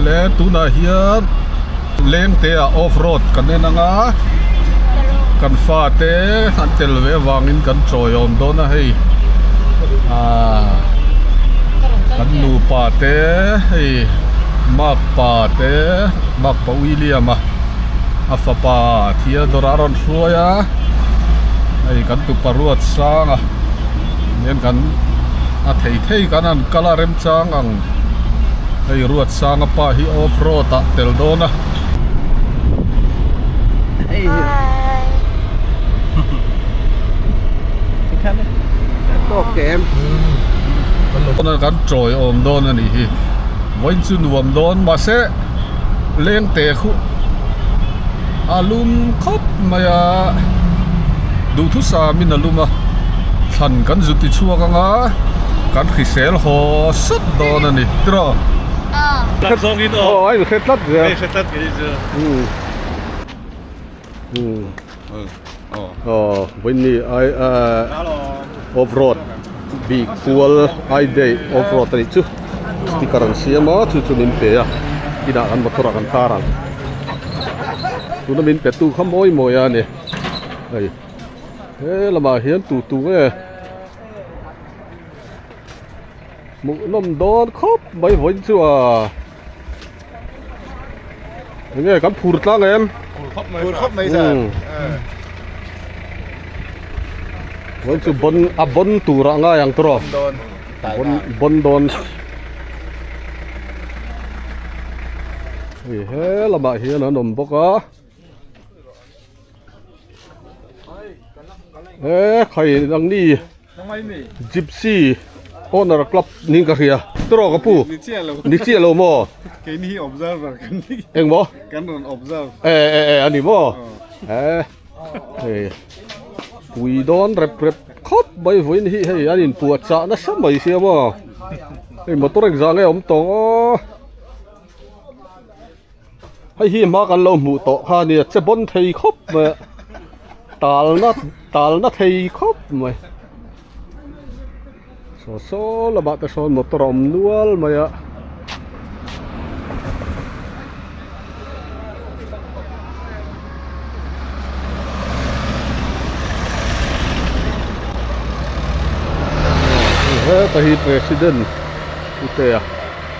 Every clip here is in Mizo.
le tunah hian lengte ah off road kan en anga kan fate an tel ve avangin kan chawiawm dawn a hei ahh kan nupa te hei makpa te mak-- Pa William a a fapa Theodore a rawn hruai a, hei kan tupa Ruatsanga hian kan a thei thei kan han kal a remchang ang, hei Ruatsanga pa hi off road ah tel dawn a, kan tawi awm dawn a nih hi vawiin chu nuam dawn mahse. leng teh khuh a lum khawp mai a duhthusa min a lum a thlan kan zu ti chhuak ang a kan hrisel haw sat dawn a ni tirah tlat zawng in aw hre tlat zel hre tlat zel. Aw vainni ai a off road bik kual ai day off road a nih chu sticker an siam a chu chu min pe a inah kan motor ah kan tar ang tuna min pe tu kha mawi mawi a ni hei he lamah hian tu tu nge hmuh nawm dawn khawp mai vawi chuan. Eng nge kan phur tlang em? Phur khawp mai. Phur khawp mai sa. Wan chu bon a bon tura ngai ang tro. Bon bon bon don. Hi he lama hian an awm bawk a. Ehh khawi ang ni gypsy owner club ni ka hria tawrh awk a pu ni chiah lo maw keini hi observer ka ni eng maw kan rawn observe eh eh eh a ni maw eh hei pui dawn rep rep khawp mai vawi ni hi hei an in puah chah nasa mai sia maw hei motor exang e awm tawh aw. Hei hi hma kan lo hmuh tawh kha nia che bawn thei khawp mai a talna talna thei khawp mai saw saw lamah te sawn motor a awm nual mai a heta hi president putea.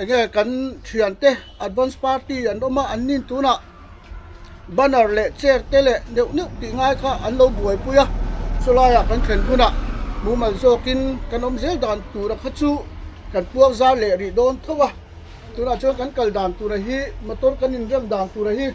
Enge kan thian te advance party an awm a an nin tunah banner leh chair te leh deuh neuh tih ngai kha an lo buaipui a chulaiah kan thlen hunah mumal zawkin kan awm zel dan tura kha chu kan puar zar leh rih dawn tho a tunah chuan kan kal dan tura hi motor kan inrem dan tura hi--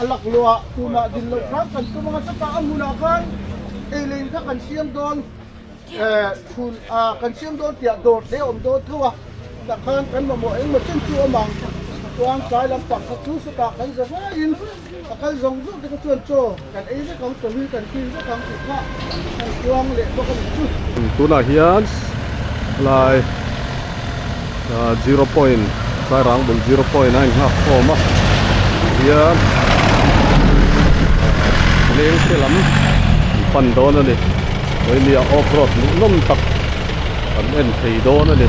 A lak luah tumah din loh khan kan tum anga chutah a hmunah khan eilein kha kan siam dawn chhun ah kan siam dawn tih ah dawr hle awm dawn tho a tah khan kan mamawh engmaw chen chu awm ang chuan tlai lampang kha chu sawtah kan za ngaiin a kal zawng zawng te kha chuan chaw Kan ei vek ang chawlh hi kan kil vek ang tih kha an kuang leh bawk a nih chu. Tunah hian helai zero point Sairang bul zero point a inghak khawm a, tih hian Lengte lam an pan dawn a ni. Tuinia off road nuh nawm tak an en thei dawn a ni.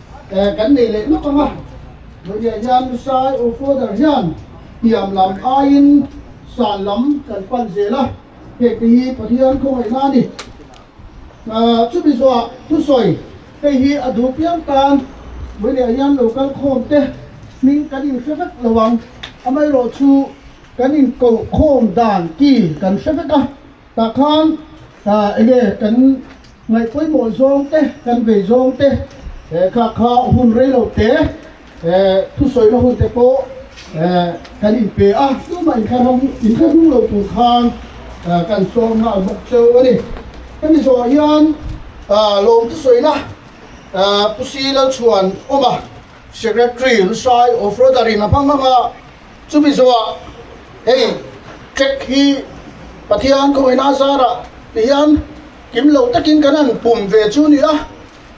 Eh kan nei leh nawk ang a, mahniah hian Missile Ur Father hian hniam lam aiin sal lam kan pan zel a, heti hi Pathian khawngaihna a ni. Ah chumi zawhah thusawi hei hi a duh piang tan mahniah hian lo kal khawm te hming kan in hre vek lo ang, amaherawhchu kan in koh khawm dan ki kan hre vek a. Tah khan ah enge kan ngaih pawimawh zawng te kan vei zawng te eh kah kha hun rei lo te eh thusawina hun te pawh eh kan in pe a tumah in thlaram in thla hung lo tur khan ah kan sawi nghal bawk cheu a ni. Hemi zawhah hian ah lawm te sawina ah Pu Sia Lalchhuan awma Secretary Lusai of Rotary na hmang hmanga Chumi zawhah hei check hi Pathian khawina zara ti hian kim lo takin kan han pum ve chu ni a,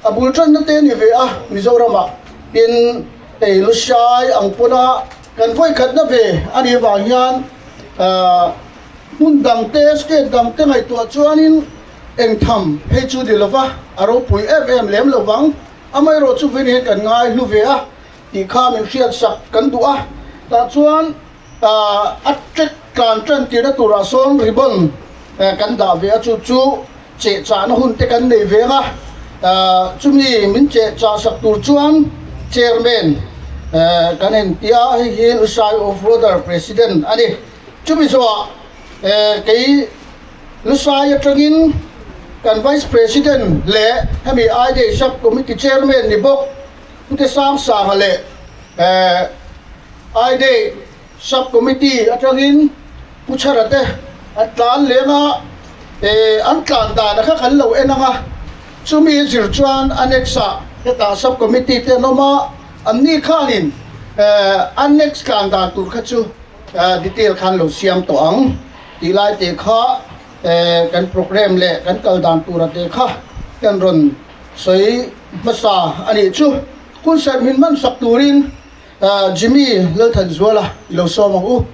a bul tanna te ni ve a, Mizorama tin hei Lusiai ang pawna kan vawi khatna ve a nih avang hian hmun dangte state dangte ngaihtuah chuanin eng tham hei chu ni lova a ropui em em lem lovang, amaherawhchu vawin kan ngai hlu ve a. tih kha min hriatsak kan duh a, tah chuan a ṭek tlan ṭan tirna turah sawn ribbon kan dah ve a, chu chu cheh chahna hun te kan nei veng a, chumi min cheh chah sak tur chuan Chairman kan entia a, hei hi Lusai Off Roader President a ni, chumi zawhah kei Lusai aṭangin kan Vice President leh hemi IDSAP Committee Chairman ni bawk, Khute Sang Sangha leh eh, INEH Sub Committee atangin Pu Chhara te an tlan leng a, eh, an tlan dan a kha kan lo en ang a, chumi zir chuan Annex ah hetah Sub Committee te an awm a, an ni khanin eh, Annex tlan dan tur kha chu eh, detail khan lo siam tawh ang tih lai te kha eh, kan programme leh kan kal dan tur a te kha kan rawn Sawi hmasa a nih chu. Hunserh min hman sak turin Jimmy Lalthanzuala i lo sawm ang u.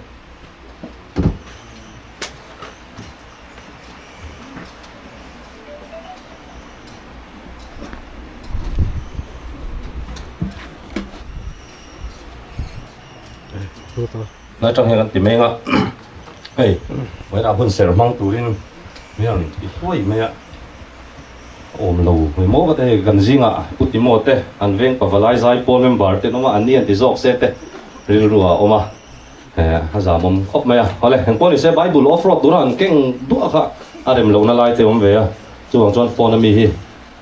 Nai tang hian kan ti mai anga hei, Vawiinah hunserh hmang turin min rawn i hluai mai a. awm lo hmu maw va te hei kan zinga putimaw te an veng pava lai zai pawl member te hnawma an ni an ti zawk se te rilru a awm a a zamawm khawp mai a hawle heng pawh ni se bible off road tura an keng duah kha a rem lo na lai te awm ve a chuvang chuan phone ami hi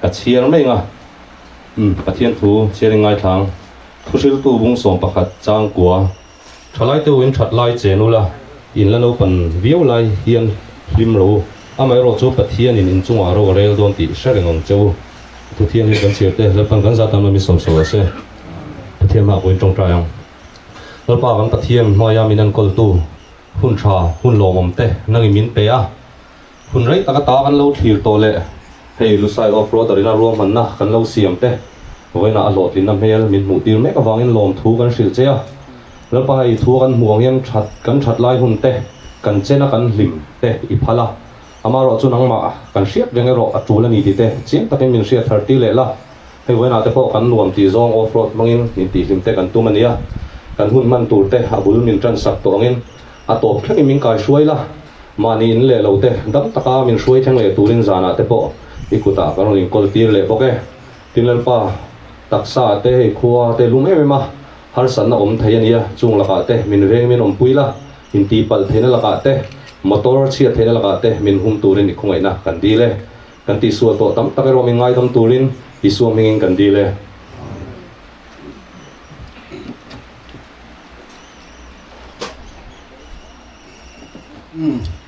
ka chhiar mai anga umm pathian thu thianin ngaithlang thuhril tu bung sawm pakhat changkua. Thalai te uin that lai che nula in la naupan viau lai hian hlim lo. Amaherawh chu Pathianin in chungah ro rel dawn tih hre reng ang che u. Thuthiam hi kan chhir te Lalpan kan zat lamah min sawm sual a se. Pathian hmaah pawhin tawngtai ang. Lalpa kan Pathian hnuaia min enkawl tu, hun tha, hun lawmawm te nangin min pe a. Hun rei taka ta kan lo thlir tawh leh hei Lusai Offroad a rina ruahmanna kan lo siam te vawiinah a hlawhtlinna hmel min hmuh tir mek avangin lawmthu kan hrilh che a. Lalpa hei thu a kan hmuh ang hian that kan that lai hun te, kan chen a kan hlim te i phal a, ama rawh chu nangmah kan hriat reng erawh a tul a ni tite chiang takin min hriat thar tir leh la. Hei vawiinah te pawh kan nuam tih zawng Offroad hmangin intihhlim te kan tum a nia, kan hun hman tur te a bul min tansak tawh angin, A tawp thlengin min kai hruai la, mahni in leh lo te dam taka min hruai thleng leh turin zanah te pawh i kutah kan rawn inkawl tir leh bawk e. Tin Lalpa, taksa te hei khua te i lum em em a, harsatna awm thei a nia, chung lakah te min veng min awmpui la, intihpalh theihna lakah te, motor chhiat theihna lakah te min hum turin i khawngaihna kan dil e. Kan tihsuah tawh tam tak erawh min ngaidam turin Isua hmingin kan dil e.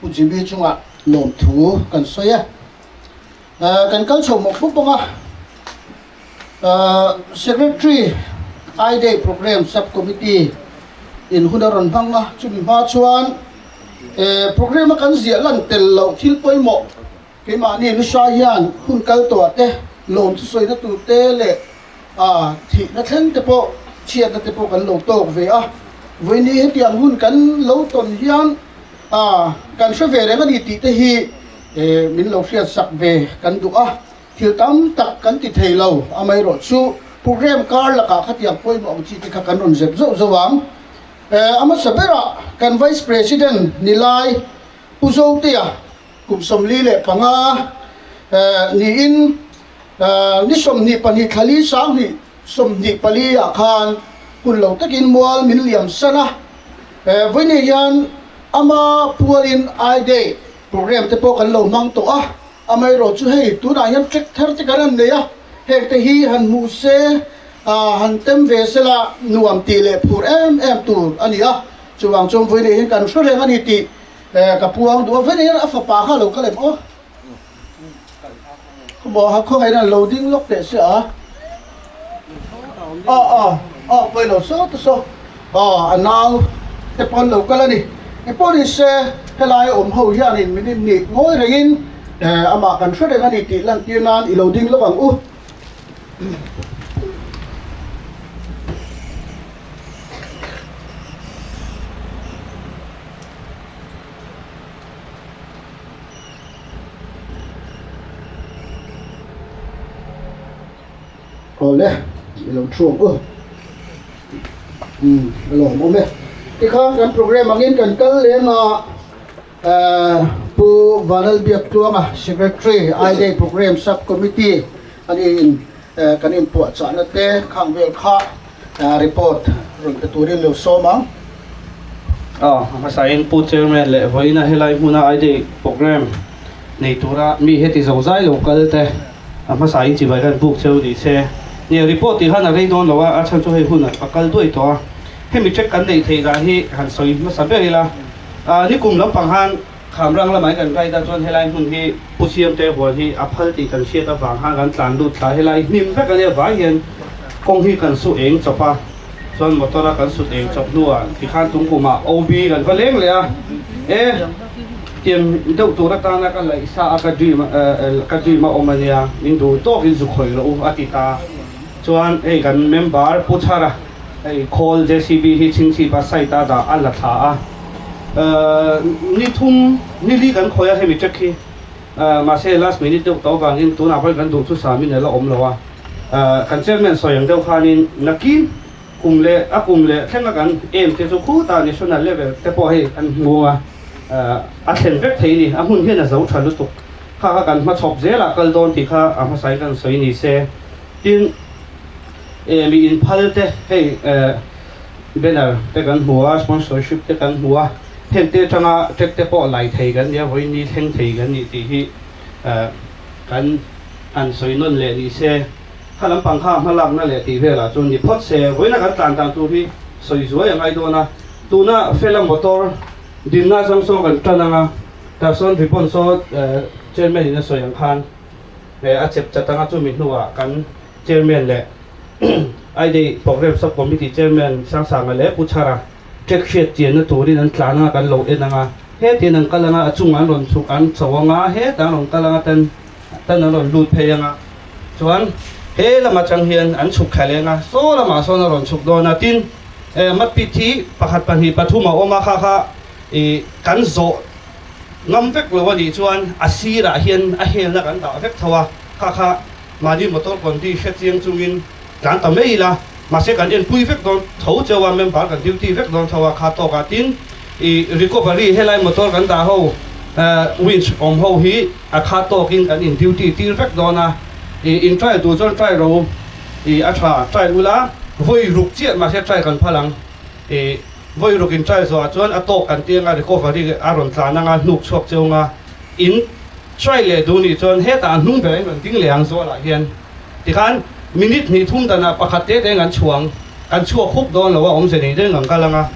Pu GB chungah lawm thu kan sawi a, kan kal chho mawk bawk bawk a, Secretary I Day Programme Sub Committee in hun a rawn hmang a, chumi hma chuan Programme a kan ziah lan tel loh thil pawimawh, Keimahni lu hra hian hun kal tuah te, lawm chu sawina tur te leh aa thihna thleng te pawh chhiatna te pawh kan lo tawk ve a. Vawinih hetiang hun kan lo tawn hian aa kan hre ve reng a ni tih te hi min lo hriatsak ve kan duh a. Thil tam tak kan ti thei lo amaherawh chu programme kar lakah khatiang pawimawh ang chi te kha kan rawn zep zauh zauh ang. Aa hmasa berah kan Vice President nilai Pu Zoteya, Kum sawmli leh panga niin ni sawmhnih pahnih thlali sanghnih sawmhnih pali ah khan kun lo takin mual min liam san a. Vawi nih hian ama phual in I Day program te pawh kan lo hmang tawh a, amaherawh chu hei tunah hian tlek thar te kan han nei a, heng te hi han hmuh se a han tem ve se la nuam tih leh phur em em tur a ni a, chuvang chuan vawi nih hian kan hre reng a ni tih Eh, ka pu ang duh a, vawina hian a fapa kha lo kal em aw. Khawmual kha khawngaih in an lo ding lawk teh sia a. Aw aw, aw pawi lo sawta saw. Aw, a nau te pawn lo kal a ni. I pawh ni se, helai a awm ho hianin min innih ngawi reng in, eh, amah kan hre reng a ni tih lantir nan i lo ding lawk ang u. awle i lo thu ang u umm a lawm awm e tikha kan programme angin kan kal lem a. Pu Vanlalbiak Tluanga Secretary I Day Programme Sub Committee a nih in kan in puah chahna te khang vel kha report rawn pe tur in lo sawm ang. A hmasa in Pu Chairman leh vawiina helai hmuna I Day Programme nei tura mi heti zo zai lo kal te a hmasa in chibai hian buk cheu ni se nia report tih khan a rei dawn lo a a chhan chu hei hunah a kal duai tawh a hemi check kan neih theih dan hi han sawi hmasa ber ila Ahh ni kum lampang han Khamrang lamah hi kan ride a chuan helai hmun hi Pu Siamte hual hi a phal tih kan hriat avang han kan tlan lut thla helai hnim vek ania vai hian kawng hi kan suh eng chawp a chuan motor a kan sut eng chawp hnuah tikhan tungkuma OB kan va leng leh a e tiang deuh tur atana ka laih sa a ka dream a ka dream a awm ania min duh tawkin zu khawih rawh u a ti ta. Chuan hei kan member Pu Char a hei khawl JCB hi chhingchhip a site a dah a la thla a. Ni thum nili kan khawih a hemi check hi mahse last minute deuh tawh avangin tunah parin kan duh chu sa minute la awm lo a. Kan chairman sawi ang deuh khanin nakin kum leh a kum leh thleng a kan aim te chu khutah national level te pawh hei an nghung a, a thlen vek thei ni, a hmun hian a zo tha lutuk. Kha kha kan hma chhawp zel a kal dawn tih kha a hmasa in kan sawi nise. Tin, eh, mi inphal te hei, eh, banner te kan hmu a, sponsorship te kan hmu a, hengte atanga check te pawh lai thei kan nia, vawiin ni thleng thei kan nih tih hi, eh, kan han sawi nawn leh ni se. Kha lampang kha hmalakna leh tih velah chuan ni phawt se. Vawiina kan tlan dan tur hi sawi zuai a ngai dawn a. Tuna Fela Motor dinna zang sawn kan tan ang a, tah sawn ribbon saw, eh, Chairman-in a sawi ang khan, He a chep chat anga chumi hnuah kan Chairman leh I-Day Programme Sub Committee Chairman Siangsanga leh Pu Chhara ṭek hriat chianna turin an tlan anga kan lo en ang a. Hetian an kal anga a chungah an rawn chhuk an chho anga heta an rawn kal anga tan tan an rawn lut phei anga chuan he lam aṭang hian an chhuk thla leng a, saw lamah sawn a rawn chhuk dawn a. Tin, e, Matpit hi pakhat pahnih pathum a awm a, kha kha i kan zawh. ngam vek lo a nih chuan a sirah hian a hel na kan dah vek tho a, kha kha mahni motor kawn ti hre chiang chungin kan ta mai ila, mahse kan en pui vek dawn tho cheu a, member kan duty vek dawn tho a, kha tawkah tin i recovery helai motor kan dah ho eh winch awm ho hi a kha tawkin kan in duty tir vek dawn a, i in try tur chuan try ro i a tha try ula vawi ruk chiah mahse try kan phal ang i. Vawi ruk in try zawhah chuan a tawk kan tih anga recovery a rawn tlan anga hnuk chhuak cheunga in try leh duh nih chuan hetah an hnung ber in rawn ding leh ang zualah hian tikhan minute hnih thum danah pakhat te teng an chhuang kan chhuak huk dawn lo a awmze nei daih ang kal anga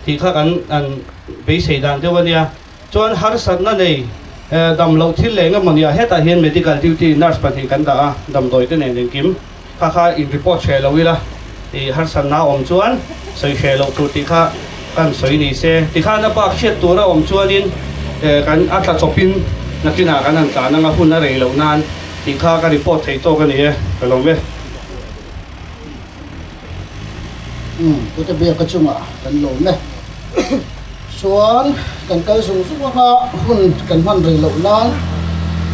tih kha kan an beisei dan deuh a nia. Chuan harsatna nei dam loh thil leh enge maw nia, hetah hian medical duty nurse pahnih kan dah a, damdawite nen engkim kha kha in report hreh loh ila ih harsatna awm chuan sawi hreh loh tur tih kha kan sawi ni se. Tikhan a bak hriat tura awm chuanin kan a tla chawpin nakinah kan han tlan anga hun a rei loh nan tih kha ka report thei tawk a ni e, ka lawm e. umm pute biaka chungah kan lo met chuan kan kal zung zung anga hun kan hman rih loh nan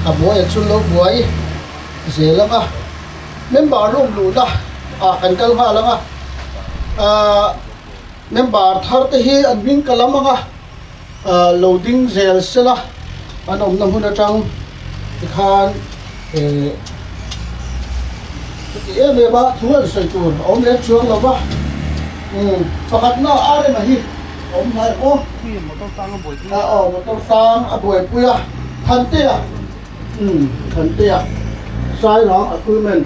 a buaia chu lo buai zel anga member lawk luhna ah kan kal nghal anga ahh member thar te hi an hming ka lam anga. Ahh lo ding zel sel a, an awmna hmun atang tikhan ehh chuti em em a thu an sawi tur a awm leh chuang lo va, umm pakhatna a rem a hi a awm hnai maw, ah aw motor sang a buaipui a, Thantea umm Thantea Sairang Akulmen.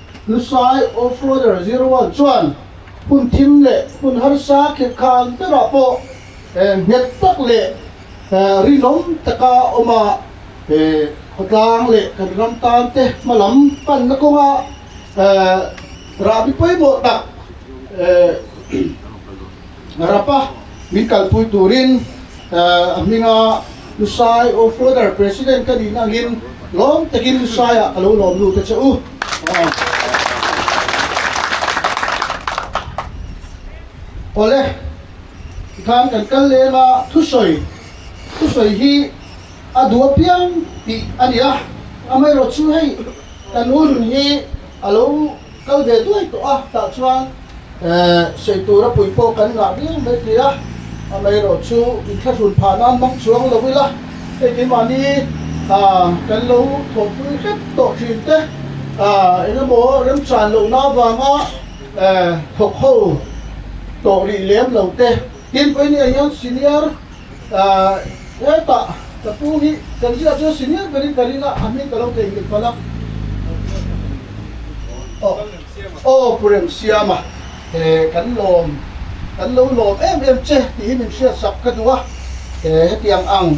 Hlusai Offroader zero one chuan hun thim leh hun harsa khirkhan berah pawh nghet tak leh rinawm taka awm a, khawtlang leh kan ram tan te hma lam panna kawnga rahbi pawimawh tak Rapa min kalpui turin a hminga Lusai aw Further President ka nihna angin lawm takin Lusai ah ka lo lawm lut a che u. Awle i khan kan kal lem a thusawi thusawi hi a duh apiang tih a ni a, amaherawhchu hei kan u nun hi, A lo kal ve duai tawh a, tah chuan sawi tura pui pawh kan ngah viau mai tih a, amaherawh chu i thlahrun phah nan mang chuang lo ila, hei keimahni kan lo thawmpui hrep tawh thin te engemaw remchan lohna vanga thawkho tawh rih lem lo te, Tin pawi nia hian senior wait ah ka pu hi kan zia chuan senior berin ka ring a a hming ka lo thei nghet palh a aw pu remsiama he kan lawm kan lo lawm em em che tih hi min hriat sak ka duh a hetiang ang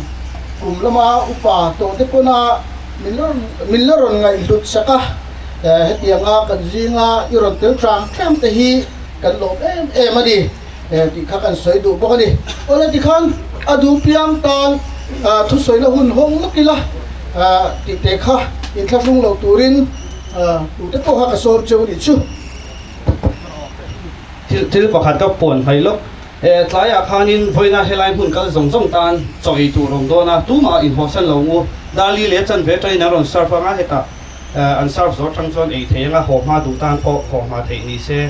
kum lama upa tawhte pawn a min la min la rawn ngaih hlut sak a hetianga kan zinga i rawn tel tlang tlang te hi kan lawm em em a ni. tih kha kan sawi duh bawk a ni. Awle tikhan a duhpiang tan thusawina hun hawng lawk ila tih te kha inthlahrung lo turin tute pawh kha ka sawm cheu anih chu. Thil thil pakhat ka puan hmai lawk, e tlaiah khanin vawiina helai hmun kal zawng zawng tan chaw ei tur awm dawn a, tumah inhawhsan lo u, Dali leh chanve ṭain an rawn serve anga hetah an serve zawh aṭang chuan ei thei anga haw hma duh tan pawh haw hma theih nise.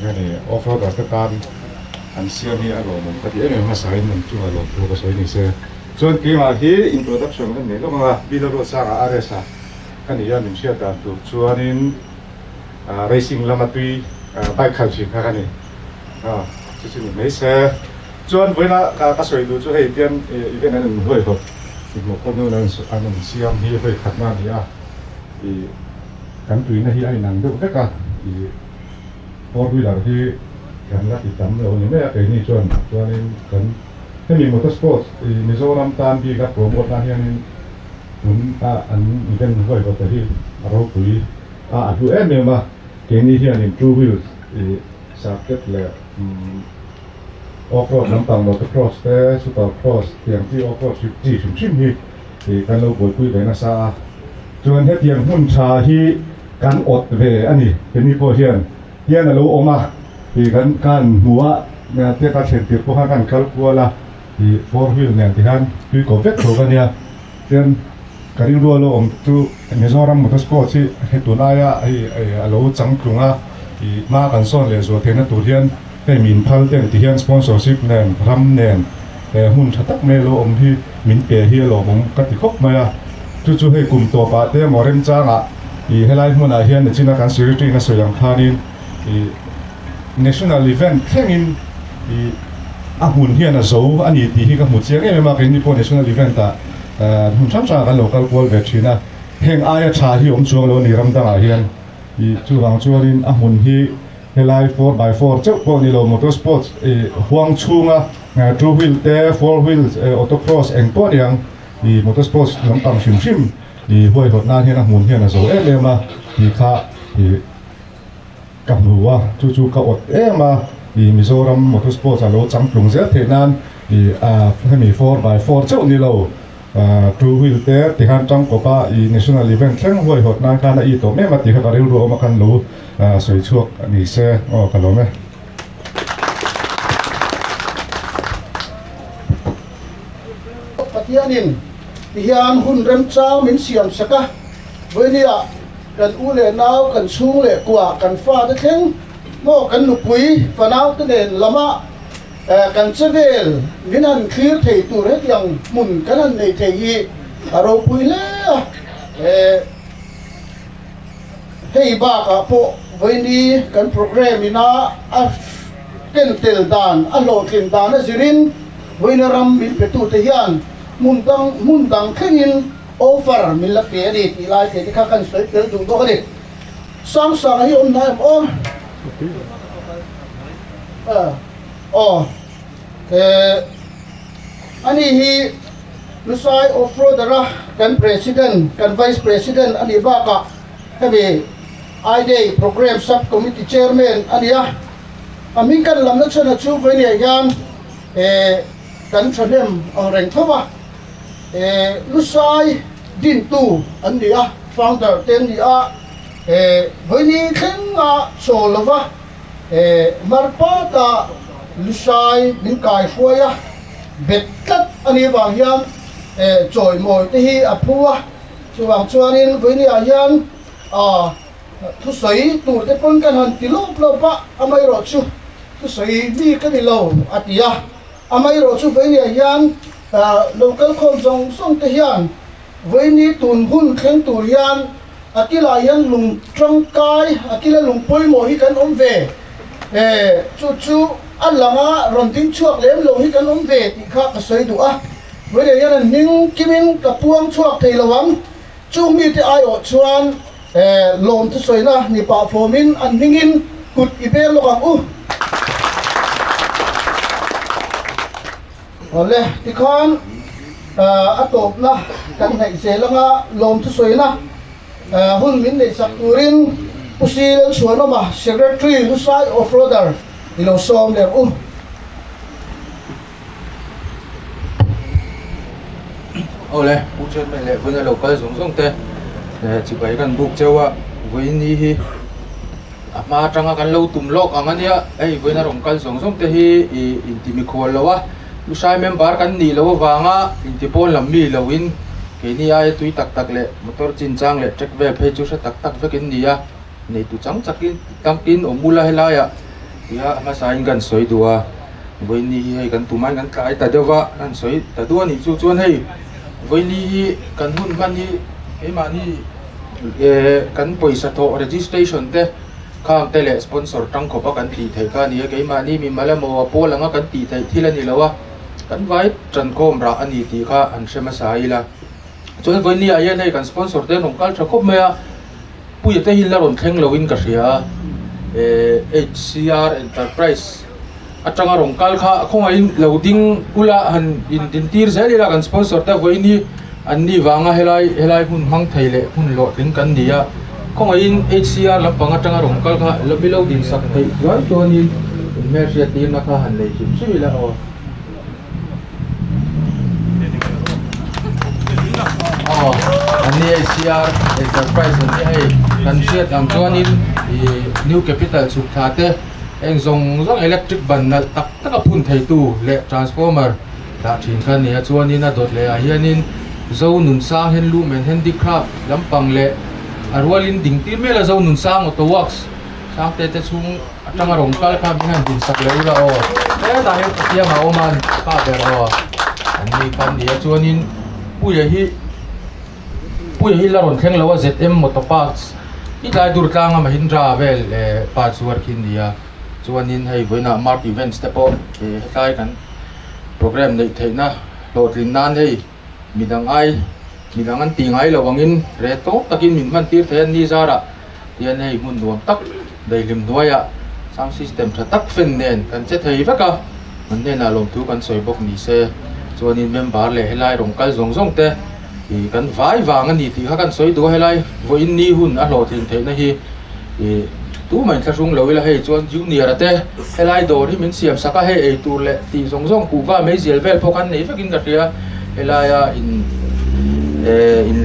Eng a ni, offroader te tan an siam hi a lawmawm ka ti em em hmasa in an chunga lawm chu ka sawi ni se. Chuan keimah hi introduction ka neih lawk ang a, Bilarua changa a race a ka ni a, min hriat dan tur chuanin racing lama tui bike khalh thin kha ka ni a, chu chu ni mai se. Chuan vawiina ka sawi duh chu hei tian event an in hawi hawp i hmuh pawh nun an in siam hi hawi khatna a ni a, i kan tuina hi a inang deuh vek a, i. four wheeler hi kan la ti tam lo a ni mai a keini chuan chuanin kan hemi motor sports i Mizoram tan bika promote na hianin tun a an event huaivawt te hi a ropui a a hlu em em a keini hianin two wheels i circuit leh off road lampang motor cross te super cross tiang chi off road chi hrim hrim hi i kan lo buaipui ve nasa a chuan hetiang hmun tha hi Kan awt ve a ni, kemi pawh hian hian a lo awm a tih kan kan hmu a, tia kan thlentir pawh khan kan kal kual a tih four wheel nen te hian tui kawp vek tho ka nia. Chuan ka rilrual lo awm chu Mizoram Motor Sports hi he tulaia hei a lo chang tlung a, ih hma kan sawn leh zual theihna tur hian, Hei min phal ten ti hian sponsorship nen ram nen eh hmun tha tak mai lo awm hi min pe hi alawm awm ka ti khawp mai a, chu chu hei kum tawp ah te emaw remchang ah ih helai hmun ah hian nichina kan secretary na sawi ang khan in ih national event thleng in ih a hmun hian a zo a ni tih hi ka hmu chiang em em a, kei ni pawh national event ah eh hmun hrang hrang ah kan lo kal kual ve thin a, heng aia tha hi awm chuang lo a ni ram dang ah hian ih chuvang chuan in a hmun hi Helai four by four chauh pawh ni lo motor sports i huang chhunga two wheel te four wheel auto cross eng pawh a ni ang i motor sports lampang hrim hrim i huaihawt nan hian a hmun hian a zo em em a tih kha i ka hmu a chu chu ka awt em a i Mizoram motor sports a lo chang tlung zel thei nan i a hemi four by four chauh ni lo. Two wheel te ti khan tang kawp a ih national event thleng huaihawt nan khan a ih tawh mem a tih kha ka rilru awm a khan lo sawi chhuak ni se aw ka lawm e. Pathian in ti hian hun rem chang min siam sak a, vawinia ah kan u leh nau, kan chhung leh kua, kan fate thleng maw kan nupui, fanaute nen lamah, Kan chevel min han thlir thei tur hetiang hmun kan han nei thei hi a ropui hle a, hei bakah pawh vawiini kan programme ina a ken tel dan a hlawhtlen dan a zir in vawiina ram min petu te hian hmun dang hmun dang thlengin offer min la pe a ni tih lai te te kha kan sawi tel duh bawk a ni. Sang sang hi awm na em aw? Aw eh ani hi Lusai Offroader a kan President kan Vice President anih bakah hemi I Day Programme Sub Committee Chairman ania. A hming kan lam nachhana chu vawinia hian eh. Kan thahnem ang reng tho va, he lu sai dintu an ni a, founder te an ni a, he vawini thleng a chaw lo va, he mar pat a lu sai min kai huai a, bet tlat a nih avang hian he chawi mawi te hi a phu a, chuvang chuan in vawini ah hian a. Thusawi tur te pawn kan han ti lawp lawp a, amaherawh chu thusawi bik ka ni lo, a ti a. Amaherawh chu Vawiniah hian lo kal khawm zawng zawng te hian Vawini tun hun thleng tur hian a ti lah hian lung tangkai, a ti la lung pawimawh hi kan awm ve e, chu chu a lang a, rawn ding chhuak lem lo hi kan awm ve tih kha ka sawi duh a. Vawiniah hian an hming kimin ka puang chhuak thei lo ang, Chung mite aiawh chuan lawm chu sawi na ni pah fawmin an hmingin kut i bel lawk ang u. Awle tikhan a tawpna kan hnaih zel anga lawm chu sawi na hun min neih chak turin Pu Silel Chhuanawma Secretary Hlusai Offroader i lo sawm lerh u. Awle Pu Chairman leh Vawina lo kal zawng zawng te eh chi pai kan buk cheu a, Vawini hi a hma atanga kan lo tum lawk ang ania, hei Vawina rawn kal zawng zawng te hi ih in ti mi khual lo a, Pu Sai member kan nih loh avanga in ti pawn lam mi lo in keini aia tui tak tak leh motor chin chang leh track ve phei chu hre tak tak vek in ni a, nei tu chang chak in tam pin awm bul a helaiah. Nia hmasain kan sawi duh a, vawiini hi hei kan tumain kan tlai ta deuh a, kan sawi ta duh a nih chu chuan hei vawiini hi kan hun hman hi keimahni eeh kan pawisa thawh registration te khang te leh sponsor tang khawpa kan tih theih kha a ni a, keimahni mi mala maw a pawl ang a kan tih theih thil a ni lo a, kan vai tankhawm rah a ni tih kha an hre hmasa ila, chuan vawiinia hian hei kan sponsor te an awm kal tha khawp mai a. Puia te hi la rawn thleng lo in ka hria a, eh HCR Enterprise atanga rawn kal kha a khawngaih in lo ding ula han in din tir zel ila kan sponsor te vawiin hi an ni vanga helai helai hun hmang thei leh hun lawh tling kan ni a, khawngaih in HCR lampang atanga rawn kal kha la milo din sak theih chuan chuan in in hmel hriat tirna kha han nei hlim hlim ila aw. Aw an ni a ICR enterprise an ni a hei kan hriat ang chuanin ih new capital chhuk thla te eng zawng zawng electric ban nalh tak tak a phun thei tu leh transformer dah thin kha a ni a chuanin a dawt leh ah hianin zonun sang handloom and handicraft lampang leh a rualin ding tir mel a zonun sang auto works -- Tlangte te chhung atanga rawn kal kha mi hian din sak leh u la aw. Hetah hian pathian a awm a an pah ber aw. An ni kha an ni a chuanin puia hi puia hi la rawn thleng lo a zet em motor parts i tlai dur tlang a mahindra vel parts uar khi an ni a chuanin hei vawiinah mart events te pawh hetlai kan programme neih theihna hlawhtlinna an hei. Midang ai, midang an tih ngai lo angin re tawk takin min hman tir thei an ni zara hian hei hmun nuam tak daihlim hnuaiah sound system tha tak fan nen kan che thei vek a, an hnenah lawm thu kan sawi bawk ni se chuanin member leh helai rawn kal zawng zawng te kan vai vang a ni tih kha kan sawi dua helai vawiin ni hun a hlawhtling theihna hi. ih tu mai thla hrung lo ila hei chuan junior a te helai dawr hi min siam sak a hei ei tur leh tih zawng zawng kuh va mai zel vel pawh khan nei vekin ka hria helaia in eh in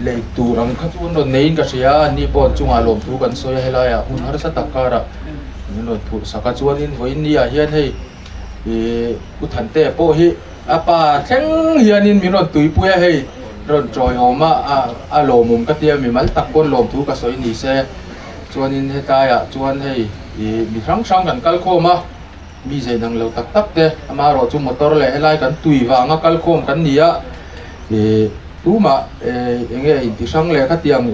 lei tur ang kha chu an rawn nei in ka hria an ni pawh an chungah lawm thu kan sawi a helaia hun harsa tak karah min rawn phurh sak a chuanin vawiin ni ah hian hei-- ih u thante pawh hi a pa thleng hianin min rawn tuipui a hei rawn tawihawm a a a lawmawm ka tia mi mal tak pawn lawmthu ka sawi nise chuanin hetlaiah chuan hei ih mi hrang hrang kan kal khawm a mi zai dang lo tak tak te amah erawh chu motor leh helai kan tui vanga kal khawm kan ni a ih tumah eh eng nge a inti hrang leh khatiang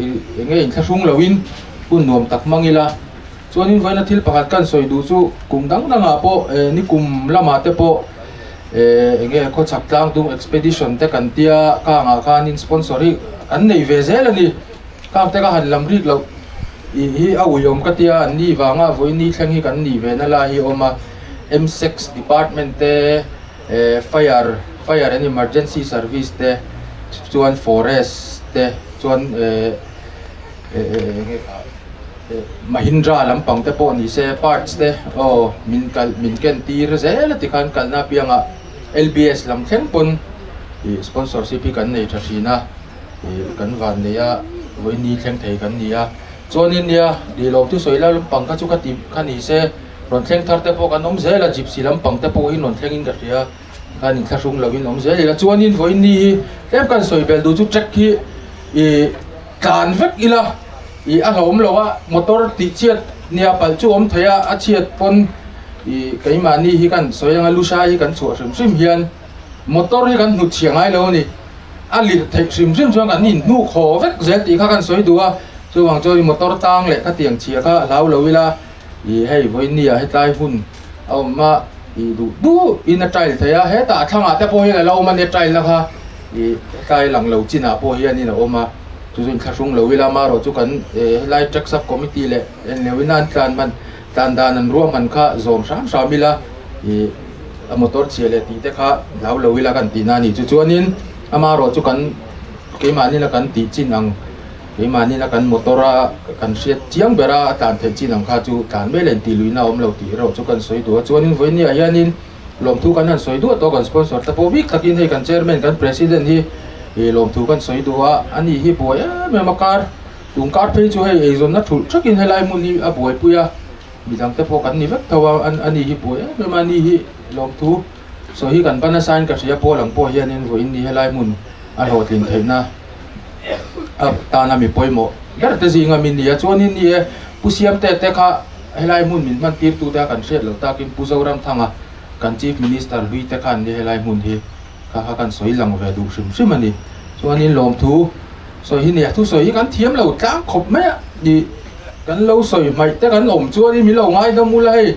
eng nge inthlahrung loin hun nuam tak hmang ila. Chuanin vawiina thil pakhat kan sawi duh chu kum dang dangah pawh eh nikum lamah te pawh eh eng nge khawchhak tlang tung expedition te kan tia kangah khanin sponsor hi kan nei ve zel a ni. Kang te ka han lam rik loh tih hi a uiawm ka tia an ni vanga vawiini thleng hi kan nih vehna lai hi a awm a. Msex department te eh fire fire and emergency service te chuan forest te chuan eh eh eng nge. Mahindra lam pang te pawh ni se parts te aw min kalh min ken tir zel a ti khan kalna apiang ah lbs lam thleng pawn ih sponsorship hi kan nei tha thin a ih kan van nei a vawiini thleng thei kan ni a chuanin nia lihloh chu sawi lai lampang kha chu kha ti kha ni se rawn thleng thar te pawh kan awm zel a gypsy lam pang te pawh hi rawn thleng in ka hria khan in thla hrum lo in awm zel ila chuanin vawiini hi tlem kan sawi bel duh chu track hi ih Tlan vek ila ih a hlawm lo a, motor tih chhiat nia palh chu awm theih a, a chhiat pawn ih keimahni hi kan sawi anga lu hra hi kan chhuah hrim hrim hian motor hi kan hmu chhia ngai lo a ni, a lirh theih hrim hrim chuan kan inhnuk haw vek zel tih kha kan sawi duh a, chuvang chuan motor tang leh khatiang chhia kha a hlau lo ila. Ih hei Vawihnia hetlai hun a awm a, ih duh duh in a trial thei a, hetah a thlangah te pawh hian a lo awm a nia trial na kha, ih hetlai a lang lo chinah pawh hianin a awm a, chu chuan thla hrung lo ila a marawh chu kan eh helai track sub committee leh en lo ina an tlan hman tlan dan an ruah hman kha zawm hram hram ila ih a motor chhia leh tih te kha hlau lo ila kan tihna a ni chu chuanin a marawh chu kan keimah nila kan tih chin ang. Keimahnila kan motor a kan hriat chiang ber a, a tlan theih chin ang kha chu tlan mel a in tih luihna a awm lo tih erawh chu kan sawi duh a, chuanin vawinia hianin lawmthu kan han sawi duah tawh kan sponsor te pawh bik takin hei kan chairman kan president hi ih lawmthu kan sawi duh a, anih hi buai em em a kar, kum kar phei chu hei eizawnna thulh thak in helai hmun hi a buaipui a, midang te pawh kan ni vek tho a, anih hi buai em em a ni hi lawmthu. Saw hi kan va nasa in ka hria a Paul ang pawh hian in vawiin ni helai hmun a hlawhtlin theihna a tana mi pawimawh berte zinga min nia chuanin ni e Pu Siamte te kha helai hmun min hman tir tute a kan hriat loh takin Pu Zoramthanga kan Chief Minister hlui te khan ni helai hmun hi kha kha kan sawi lang ve duh hrim hrim a ni chuanin lawmthu sawi hi nia thu sawi hi kan thiam lo tlang khawp mai a ni kan lo sawi hmaih te kan awm chuanin min lo ngaihlawm ula hei.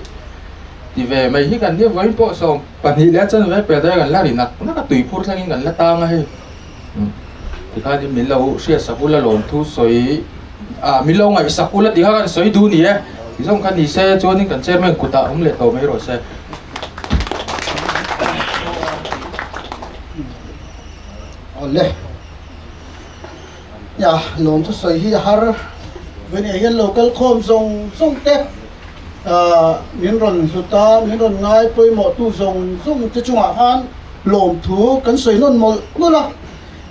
Ti ve mai hi kan ni vawiin pawh sawm pahnih leh a chhan ve pet hi kan la ri nak nak a tui phur thlengin kan la tang a hei tikhanin min lo hriatsak ula lawm thu sawi ah min lo ngaihsak ula ti kha kan sawi duh ni e ti zawng kha ni se chuanin kan chairman kut ah awm leh tawh mai rawh se awle. Nia lawm chu sawi hi a har ve nia hian lo kal khawm zawng zawng te min rawn hlut a min rawn ngai pawimawh tu zawng zawng te chungah khan lawm thu kan sawi nawn mawlh mawlh a,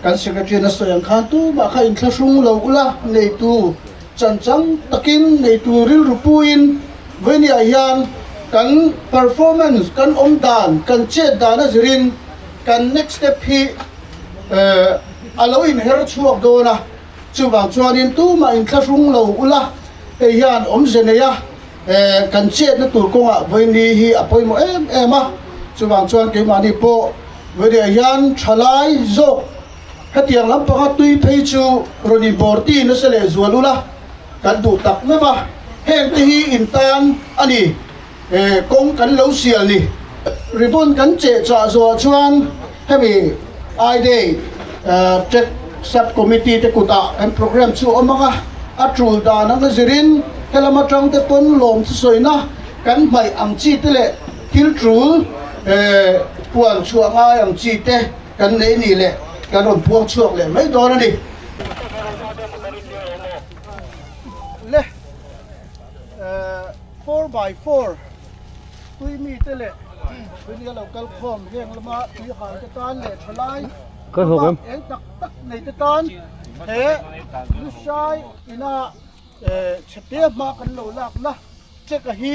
kan secretary na sawi ang khan tumah kha in thlahrung lo ula neitu chanchang takin neitu rilru puiin Vawinia hian kan performance kan awmdan kan chet dan a zirin kan next step hi a lo inher chhuak dawn a, chuvang chuanin tumah in thla hrung lo ula hei hian awmze nei a kan chetna tur kawngah vawini hi a pawimawh em em a, chuvang chuan keimahni pawh vawineia hian thalai zawk hetiang lampanga tui phei chu rawn inbawr ti nasa leh zual ula kan duh tak meuh a, hengte hi intan a ni. he kawng kan lo sial ni ribbon kan che chah zawh chuan hemi I day check sub committee te kutah kan programme chu awm ang a a tul dan ang zir in helam atang te pawn lawm chu sawi na kan hmai ang chi te leh thil tul puan chhuah ngai ang chi te kan nei nih leh kan rawn buang chhuak leh mai dawn a ni. Four by four tui mi te leh tui mi a lo kal khawm heng lama tui hal te tan leh thalai bak eng tak tak nei te tan he Lusai ina chhe te hma kan lo lak na check a hi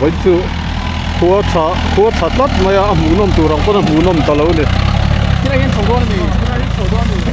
Vawi chu khua tha khua tha tlat mai a, a hmuh nawm tur ang pawn a hmuh nawm ta lo ni. Khilai hian chho dawn a ni, khilai hi chho dawn a ni.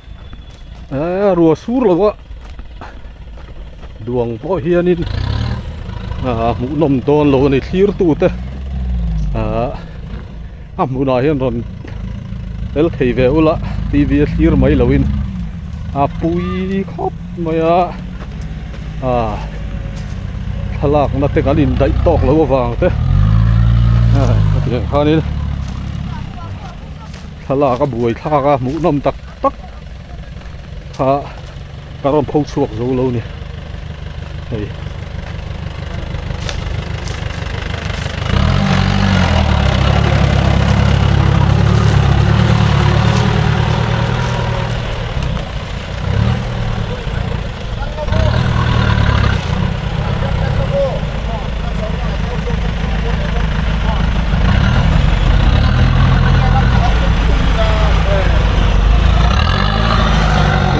a rua sur lo a duang pawh hianin a hmuh nawm dawn lo a ni thlir tute ah a hmunah hian rawn fel thei ve ula t v a thlir mai lovin a pui khawp mai a a thlalakna te kan indaih tawk loh avang te hetiang khanin. Thlalak a buai thlak a, hmuhnawm tak tak kha ka rawn pho chhuak zo lo ni. Hei.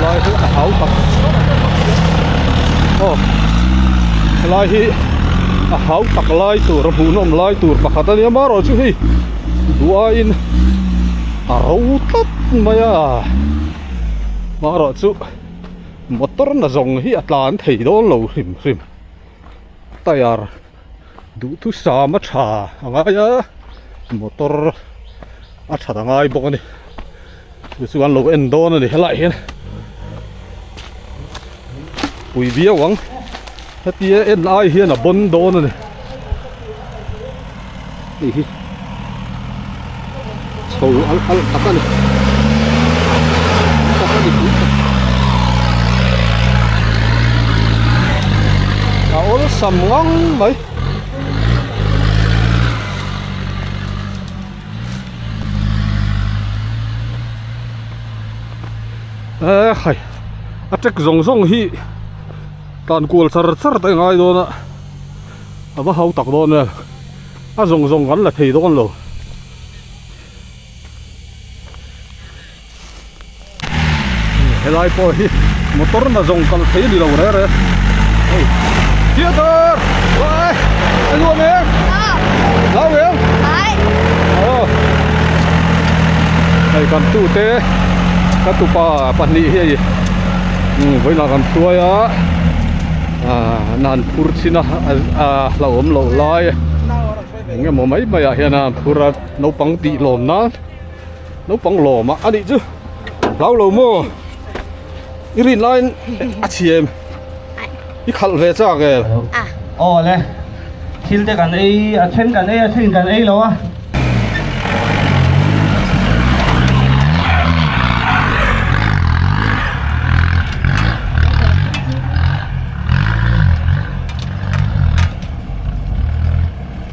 helai hi a hau tak aw helai hi a hau tak lai tur a hmuh nawm lai tur pakhat a nia marawh chu hei duai in a ro tlat mai a. mahro chu motor la zawng hi a tlan thei dawn lo hrim hrim tyre duh thu sam a tha a ngai a motor a that a ngai bawk a ni chu chu an lo en dawn a ni helaiah hian pui viau ang. Hetia en ai hian a bawn dawn a ni. Hei hi. Chho al al tak a ni. Tak a ni tih ka. A awlsam ngang mai. Eh hai. A trek zawng zawng hi. Tlan kual char char te ngai dawn a a va hau tak dawn vel a zawng zawng kan la thei dawn lo. Helai pawh hi motor na zawng kal thei ni lo reng reng. Hei. Theater! Wai! Anh Luan em! Lau em! Ai! Ồ! Hei kan tu te ka tupa pahnih hi vawilah kan hruai a ah na an phur chhin a ah hla awm loh lai eng emaw mai mai ah hian a an phur a naupang tih lawm nan naupang lawm a anih chu hlaulo maw i rin laiin a chhiam. I khalh ve chak e. Ah. Aw le. Thil te kan ei a, then kan ei a, then in kan ei lo a.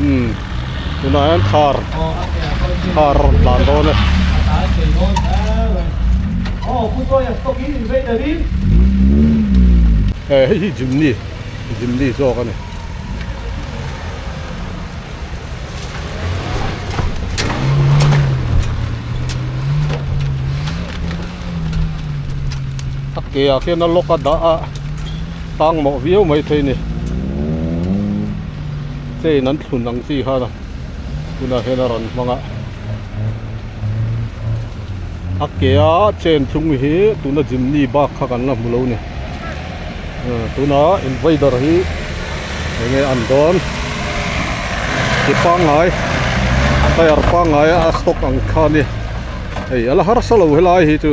umm tunah hian thar thar a rawn tlan dawn a hei hi gym ni gym ni zawk a ni a ke ah khian a lock a dah a. Sang mawh viau mai thei ni. Chain an thlun ang chi khan tunah hian a rawn hmang a. A ke a chain thlung hi tuna Jimny bak kha kan la hmu lo ni. Tunah invader hi eng nge an dawn. Ke pangngai tyre pangngai a stock ang kha ni. Hei a la harsa lo helai hi chu.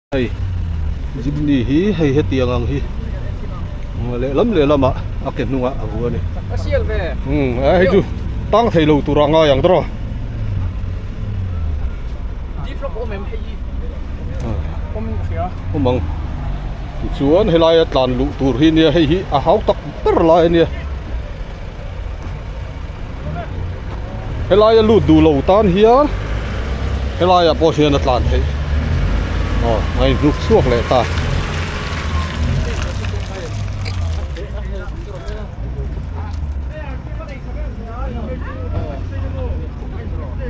Hei Jimmy hi hei hetiang ang hi lehlam lehlam ah a ke hnung ah a vu a ni. Umm a hei chu tang thei lo tur a ngai ang draw. Awm ang tichuan helai a tlan luh tur hi nia hei hi a hau tak ber lai a nia. helai a lut duh lo tan hian helai ah pawh hian a tlan theih aw a in hnuk chhuak leh ta.